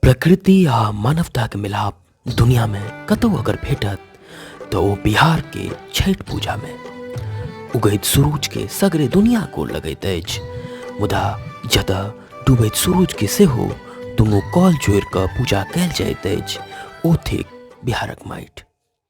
प्रकृति आ मानवताके मिलाप दुनियामे कतहु अगर भेटत तऽ ओ बिहारके छठि पूजामे उगैत सूरूजके सगरे दुनिया को लगैत अछि मुदा जतऽ डूबैत सूरूजके सेहो दुनू कॉल जोड़ि कऽ पूजा कयल जाइत अछि ओ थिक बिहारक माटि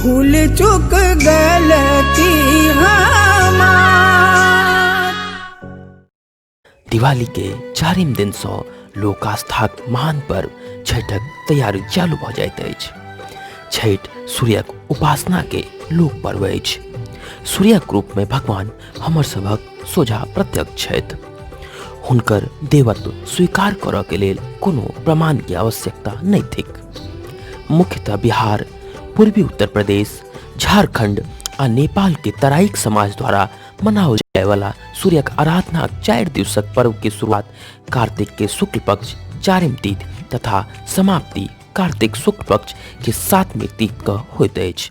भूल चुक गलती दिवाली के चारिम दिन सौ लोक आस्थाक महान पर्व छठक तैयारी चालू भऽ जाइत अछि छठ सूर्यक उपासना के लोक पर्व अछि सूर्यक रूप में भगवान हमर सभक सोझा प्रत्यक्ष छथि हुनकर देवत्व स्वीकार करऽ के लेल कोनो प्रमाण के आवश्यकता नहि थिक मुख्यतः बिहार पूर्वी उत्तर प्रदेश झारखंड आ नेपाल के तराइक समाज द्वारा मनाओल जाए वाला सूर्य के आराधना चार दिवसक पर्व के शुरुआत कार्तिक के शुक्ल पक्ष चारिम तीथ तथा समाप्ति कार्तिक शुक्ल पक्ष के सातवें तीथ क होइत अछि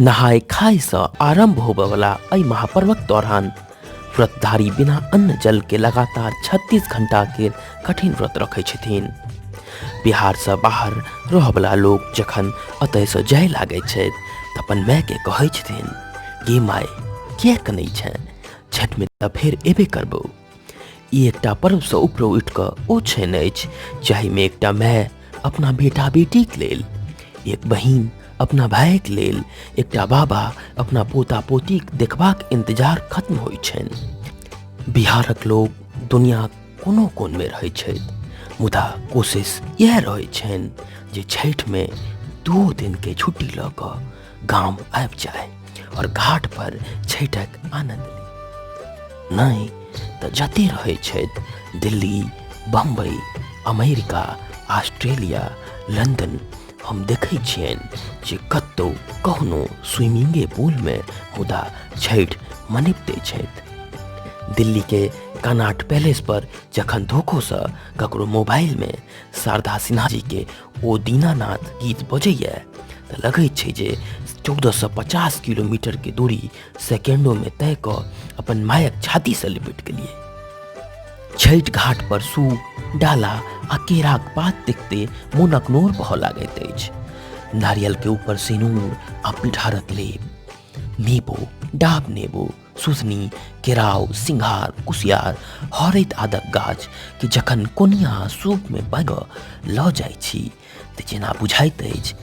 नहाय खाय सँ आरंभ होबयवला एहि महापर्वक दौरान व्रतधारी बिना अन्न जल के लगातार 36 घंटा के कठिन व्रत रखै छथिन बिहार सँ बाहर रहयवला लोक जखन एतय सँ जाय लागै छथि तऽ अपन माय के कहै छथिन गे माय किया कनै छै छठि मे तऽ फेर एबे करबौ ई एकटा पर्वसँ उपरो उठि कऽ ओ छन अछि जाहिमे एकटा माय अपना बेटा बेटीक लेल एक बहिन अपना भायक लेल एकटा बाबा अपना पोता पोतीक देखबाक इन्तजार खत्म होइत छनि बिहारक लोक दुनियाक कोनो कोनमे रहैत छथि मुदा कोशिश इएह रहैत छनि जे छठिमे दू दिनके छुट्टी लऽ कऽ गांव आबि जाए और घाट पर छठक आनंद ली नहीं तो जते रहे छथि Delhi Bombay America Australia London हम देखै छियनि जे कतहु कहुनो स्विमिंगे पूलमे मुदा छठि मनैबते छथि दिल्लीके कनाट पैलेस पर जखन धोखोसँ ककरो मोबाइलमे शारदा सिन्हा जीके ओ दीनानाथ गीत बजैए तऽ लगैत छै जे चौदह सए पचास किलोमीटरके दूरी सेकेंडोमे तय कऽ अपन मायक छातीसँ लिपटि गेलिए छठि घाट पर सूप डाला आ केराक पात देखते मोनक नोर बह लागैत अछि नारियलके ऊपर सिनूर आ पिठारक लेप नेबो डाब नेबो सुसनी केराव सिंघार कुसियार हरैत आदक गाछ कि जखन कोनिया सूप में बग लऽ जाइ छी तऽ जेना बुझाइत अछि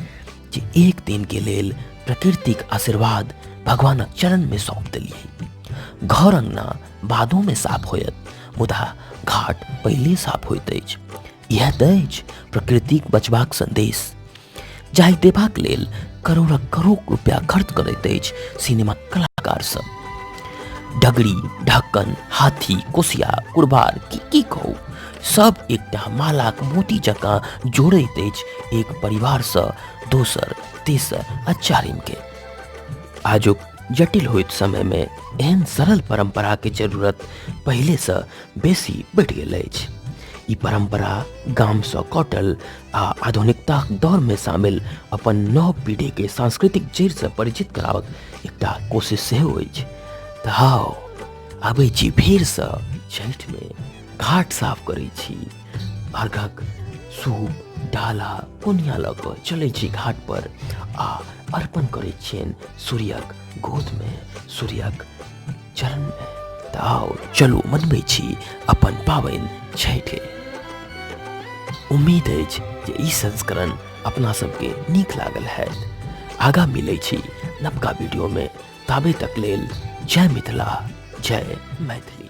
जे एक दिन के लेल प्रकृतिक आशीर्वाद भगवानक चरण में सौंप देलियै घर अंगना बादो में साफ होयत मुदा घाट पहिले साफ होइत अछि इएह तऽ अछि प्रकृतिक बचबाक संदेश जाहि देबाक लेल करोड़क करोड़ रुपया खर्च करैत अछि सिनेमा कलाकार सब डगरी ढक्कन हाथी कोसिया कुरबार की की कहू सब एकटा मालाक मोती जकाँ जोड़ैत अछि एक परिवारसँ दोसर तेसर आ चारिमके आजुक जटिल होइत समयमे एहन सरल परम्पराके जरूरत पहिलेसँ बेसी बढ़ि गेल अछि ई परम्परा गामसँ कटल आ आधुनिकताक दौर में शामिल अपन नव पीढ़ी के सांस्कृतिक जड़ से परिचित करावक एकटा कोशिश सेहो अछि तऽ हाउ अबै छी फेर से छठि में घाट साफ करै छी अर्घक सूप डाला कोनिया लऽ कऽ चलै छी घाट पर आ अर्पण करै छियनि सूर्यक गोद में सूर्यक चल तऽ आउ चलू मनबै छी अपन पाबनि छठि उम्मीद अछि जे ई संस्करण अपना सबके नीक लागल है आगा मिलै छी नवका वीडियोमे ताबे तक लेल जय मिथिला जय मैथिली